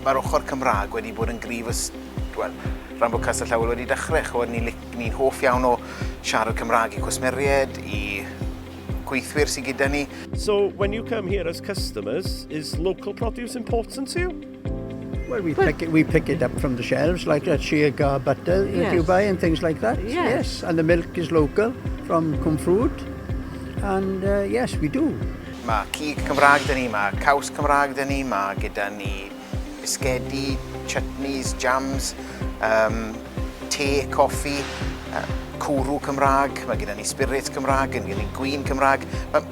Mae'r ochr Cymraeg wedi bod yn grif ys... Wel, rhan bod Castell Howell wedi dechrau, chywed, ni'n ni hoff iawn o siarad Cymraeg i cwsmeriaid, i gweithwyr sydd gyda ni. So, when you come here as customers, is local produce important to you? Well, we pick it, we pick it up from the shelves, like a chia gar butter yes. that you buy and things like that. Yes. yes. And the milk is local from Cwmfrwd. And uh, yes, we do. Mae cig Cymraeg dyn ni, mae caws Cymraeg dyn ni, mae gyda ni bisgedi, chutneys, jams, um, te, coffi, uh, cwrw Cymraeg, mae gyda ni spirits Cymraeg, mae gyda ni gwyn Cymraeg. Mae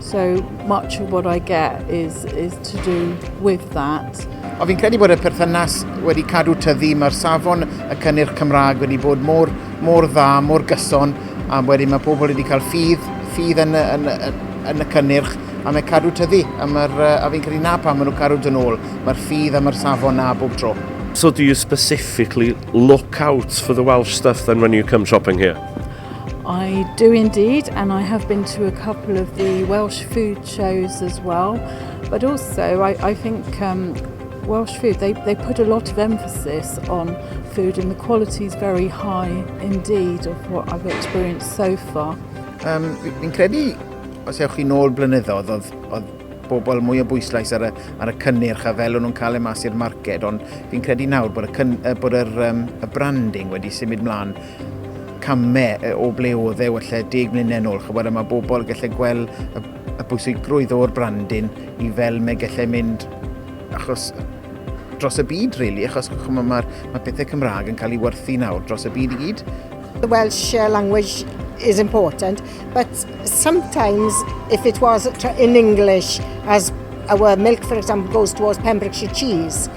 So much of what I get is, is to do with that. O fi'n credu bod y perthynas wedi cadw tyddi, mae'r safon y cynnyrch Cymraeg wedi bod mor, mor dda, mor gyson, a wedyn mae pobl wedi cael ffydd, ffydd yn, yn, yn, yn y cynnyrch, a mae cadw tyddi, a, a fi'n credu na pa maen nhw'n cadw dyn ôl, mae'r ffydd a mae'r safon na bob tro. So do you specifically look out for the Welsh stuff then when you come shopping here? I do indeed, and I have been to a couple of the Welsh food shows as well. But also, I, I think um, Welsh food, they, they put a lot of emphasis on food, and the quality is very high indeed of what I've experienced so far. Um, fi'n credu, os ewch chi'n ôl blynyddoedd, oedd, oedd bobl mwy o bwyslais ar y, ar y cynnyrch a fel o'n nhw'n cael ei mas i'r marced, ond fi'n credu nawr bod y, cyn, bod yr, um, y branding wedi symud mlaen camau o ble oedd e wella 10 mlynedd nôl. Chybod, a mae bobl gallai gweld y, y bwysigrwydd o'r brandin i fel mae gallai mynd achos dros y byd, really, achos chymod, mae, mae pethau Cymraeg yn cael ei werthu nawr dros y byd i gyd. The Welsh uh, language is important, but sometimes if it was in English, as our milk, for example, goes towards Pembrokeshire cheese,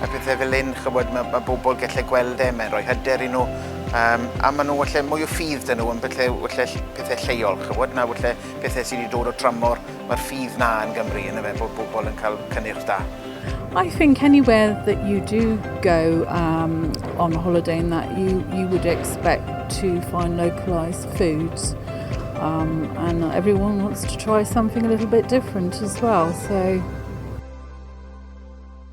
a pethe fel 'yn ch'mod ma' ma' bobol gelle gweld e mae'n roi hyder i nw yym a ma' nw elle mwy o ffydd 'da nw yn bylle welle ll- pethe lleol ch'mod na welle pethe sy 'di dod o tramor ma'r ffydd 'na yn Gymru yndyfe bod bobol yn ca'l cynnyrch da. I think anywhere that you do go um, on holiday and that you, you would expect to find localised foods um, and everyone wants to try something a little bit different as well so